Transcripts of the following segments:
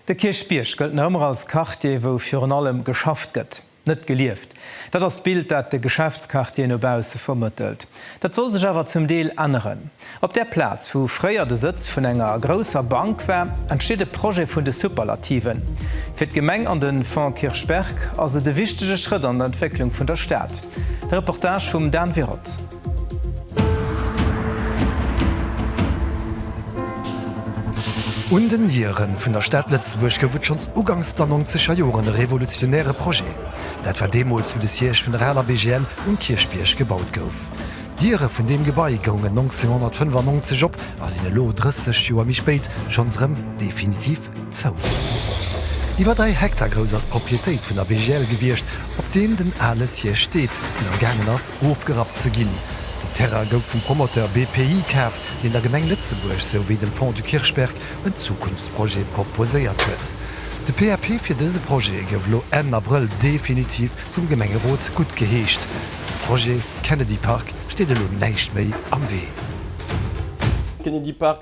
De Kierchbierg gëllt nach ëmmer als Quartier, wou virun allem geschafft gëtt, net gelieft. Dat ass d'Bild, dat de Geschäftsquartier no bausse vermëttelt. Dat soll sech awer zum Deel änneren. Op där Plaz, wou fréier de Sëtz vun enger grousser Bank war, entsteet e Projet vun de Superlativen. Fir d'Gemeng an de Fonds Kirchberg ass et e wichtege Schrëtt an der Entwécklung vun der Stad. De Reportage vum Dan Wirot. Un den Dieren vun der Stad Lëtzebuerg gouf et schonns uganks der nonzeger Joren e revolutionäre Projet. Dat war deemools, wou de Siège vun der aler BGL um Kierchbierg gebaut gouf. D'Diere vun deem Gebai goungen 1995 op a sinn elo, 30 Joer méi spéit, schonns erëm definitiv Zou. Iwwer 3 Hektar grouss ass d'Proprietéit vun der BGL gewiescht, op deem den ale Siège steet, deen am gaangen ass ofgerappt ze ginn. Den Terrain gouf vum Promoteur BPI kaf, deen der Gemeng Lëtzebuerg sou wéi dem Fonds du Kirchberg en Zukunftsprojet proposéiert huet. De PAP fir dëse Projet gouf elo Enn Abrëll definitiv vum Gemengerot guttgeheescht. Dem Projet Kennedy Park steet elo näischt méi am Wee.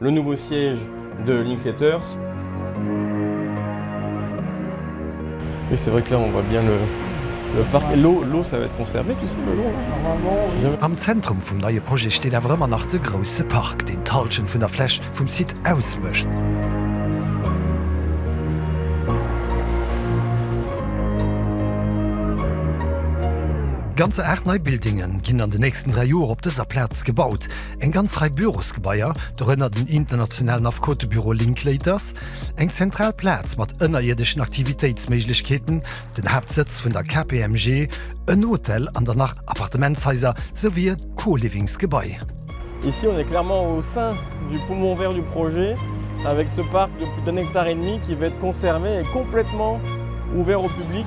Le nouveau siège de Linklaters. Oui c'est vrai que là on voit bien le parc et l'eau ça va être conservé tout ça le long là normalement? Am Zentrum vum neie Projet steet awer ëmmer nach de grousse Park, deen d'Hallschent vun der Fläch vum Site ausmécht. Ganzer 8 nei Buildinge ginn an de nächsten 3 Joer op dëser Plaz gebaut. Eng ganz Rei Bürosgebaier, dorënner den internationalen Affekotebüro Linklaters, eng zentral Plaz mat ënnerierdeschen Aktivitéitsméiglechkeeten, den Haaptsëtz vun der KPMG, en Hotel an der nach Appartementshaiser souwéi e Co-Livingsgebai. Ici on est clairement au sein du poumon vert du projet avec ce parc de plus d'un hectare et demi qui va être conservé et complètement ouvert au public.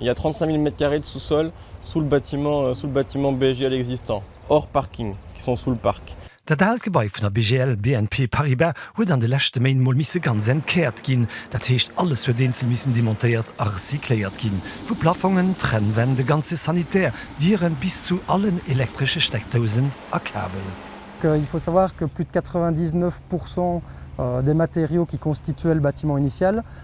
Il y a 35.000 mètres carrés de sous-sol sous le bâtiment, sous le bâtiment BGL existant, hors parking, qui sont sous le parc. Dat aalt Gebai vun der BGL, BNP Paribas, huet an de leschte Méint mol misse ganz entkäert ginn. Dat heescht, alles huet eenzel missen demontéiert a recycléiert ginn. Vu Plafongen, Trennwänn, de ganze Sanitär, Dieren bis zu allen elektresche Steckdousen a Kabel. Il faut savoir que plus de 99 pourcent des matériaux qui constituaient le bâtiment initial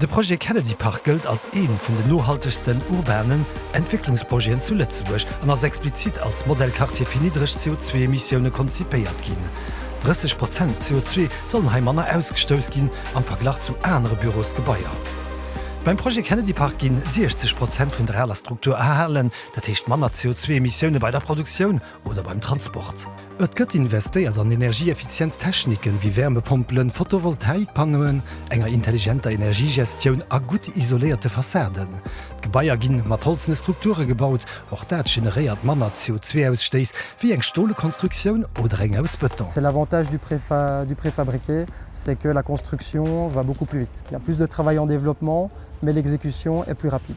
De Projet Kennedy Park gëllt als ee vun den nohaltegsten urbanen Entwécklungsprojeten zu Lëtzebuerg an ass explizit als Modellquartier fir niddreg CO2-Emissioune konzipéiert ginn. 30 Prozent CO2 sollen hei manner ausgestouss ginn am Verglach zu anere Bürosgebaier. Beim Projet Kennedy Park ginn 60 Prozent vun der aler Struktur erhalen, dat heescht manner CO2-Emissioune bei der Produktioun oder beim Transport. Et gëtt investéiert an energieeffizienz Techniken, wéi Wärmepompelen, Photovoltaikpanneauen, enger intelligenter Energiegestioun a gutt isoléierte Fassaden. D'Gebaier ginn mat holzene Strukture gebaut, och dat generéiert manner CO2-Ausstéiss wéi eng stole Konstruktioun oder eng aus Bëton. C'est l'avantage du préfab, du préfabriqué, c'est que la construction va beaucoup plus vite. Il y a plus de travail en développement, mais l'exécution est plus rapide.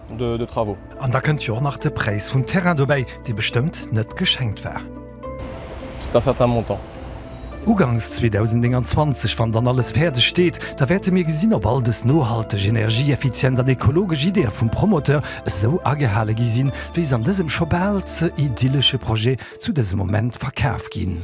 de travaux. An da kënnt jo och nach de Präis vum Terrain dobäi, dee bestëmmt net geschenkt war. C'est un certain montant. Uganks 2029, wann dann alles fäerdeg steet, da wäerte mir gesinn, ob all dës nohalteg, energieeffizient an ekologesch Ideeë vum Promoteur esou agehale gi sinn, wéi se an dësem scho bal ze idyllesche Projet zu dësem Moment verkaf ginn.